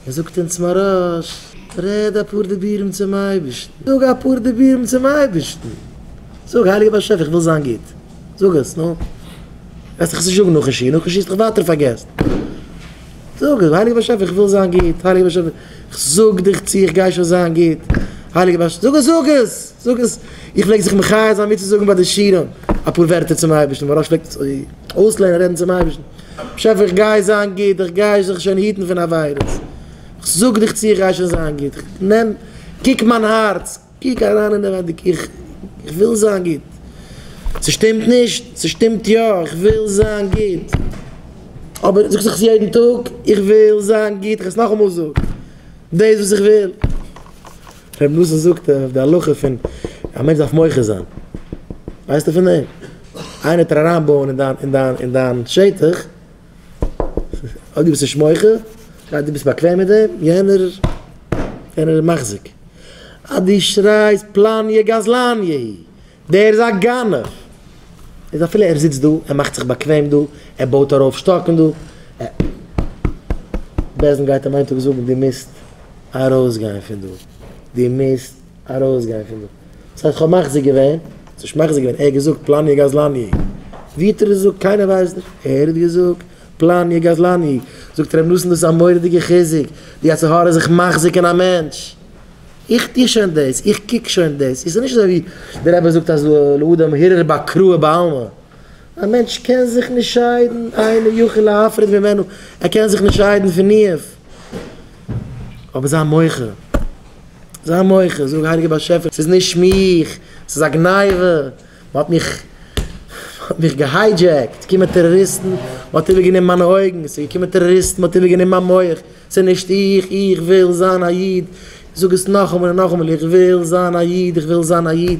ער זאגט אונז מוהראש, רעד אפאר דיבורים צום אייבערשטן, זאג אפאר דיבורים צום אייבערשטן, זאג, הייליגער באשעפער איך וויל זיין גוט, זאג עס, נו, וועסט דאך עס נישט זאגן נאכן שיעור, נאכן שיעור האסט דאך ווייטער פארגעסט, זאג, הייליגער באשעפער איך וויל זיין גוט, הייליגער באשעפער איך זאג דיך צו איך גיי שוין זיין גוט, הייליגער באשעפער, זאג עס, זאג עס, זאג עס, איך פלעג זיך מחיה זיין מיטצוזאגן ביי די שיעורים אפאר ווערטער צום אייבערשטן, מוהראש פלעגט עס אוי. אויסלערנען רעדן צום אייבערשטן, באשעפער איך גיי זיין גוט, איך גיי זיך שוין היטן פון עבירות, איך זאג דיך צו איך גיי שוין זיין גוט, נעם קוק מיין הארץ, קוק אריין אינעווייניג, איך וויל זיין גוט, ס'שטימט נישט, ס'שטימט יא, איך וויל זיין גוט, אבער זאגסט זיך עס יעדן טאג, איך וויל זיין גוט, איך וועל עס נאכאמאל זאגן, דאס וואס איך וויל. ר' נתן זאגט אויף די הלכה פון א מענטש דארף מוחה זיין, ווייסטו פון דעם? איינער טאר אריין בויען אין דיין אין דיין אין דיין שטח, אויב דו ביסט נישט מוחה, דו ביסט באקוועם מיט דעם, יענער יענער איז מחזיק, אז דו שרייסט פלאניע גזלניע היא. דער איז א גנב! איז אפילו ער זיצט דא, ער מאכט זיך באקוועם דא, ער בויט ארויף שטאקן דא, ער. בעז ם גייט אים איין טאג זאגן דו מוזט ארויסגיין פון דא! דו מוזט ארויסגיין פון דא! וואס הייסט כ'האב מחזיר געווען? וואס האסט מחזיר געווען? ער האט געזאגט פלאניע גזלני'! ווי האט ער עס געזאגט? קיינער ווייסט נישט! ער האט געזאגט פלאניע גזלני'! זאגט ר' נתן דאס איז א מורא'דיגע חיזוק ווי אזהרה זיך מחזיר קען א מענטש! איך טו שוין דאס, איך קוק שוין דאס, איך זיך נישט אזוי ווי דער רבי זאגט אז לאדם הרהור באקראו בעלמא, א מענטש קען זיך נישט שיידן, אינו יכול להפריד ממנו, ער קען זיך נישט שיידן פון איהם, אבער זיי מוחה, זיי מוחה, זאג הייליגער באשעפער ס'איז נישט מיך, ס'איז א גניבה, מ'האט מיך, מ'האט מיך געהיידזשעקט, ס'קומען טעראריסטן, מ'האט איבערגענומען מיינע אויגן, ס'איז געקומען טעראריסטן מ'האט איבערגענומען מיין מח. צו נישט איך, איך וויל זיין א איד, זאג עס נאכאמאל און נאכאמאל, איך וויל זיין א איד, איך וויל זיין א איד.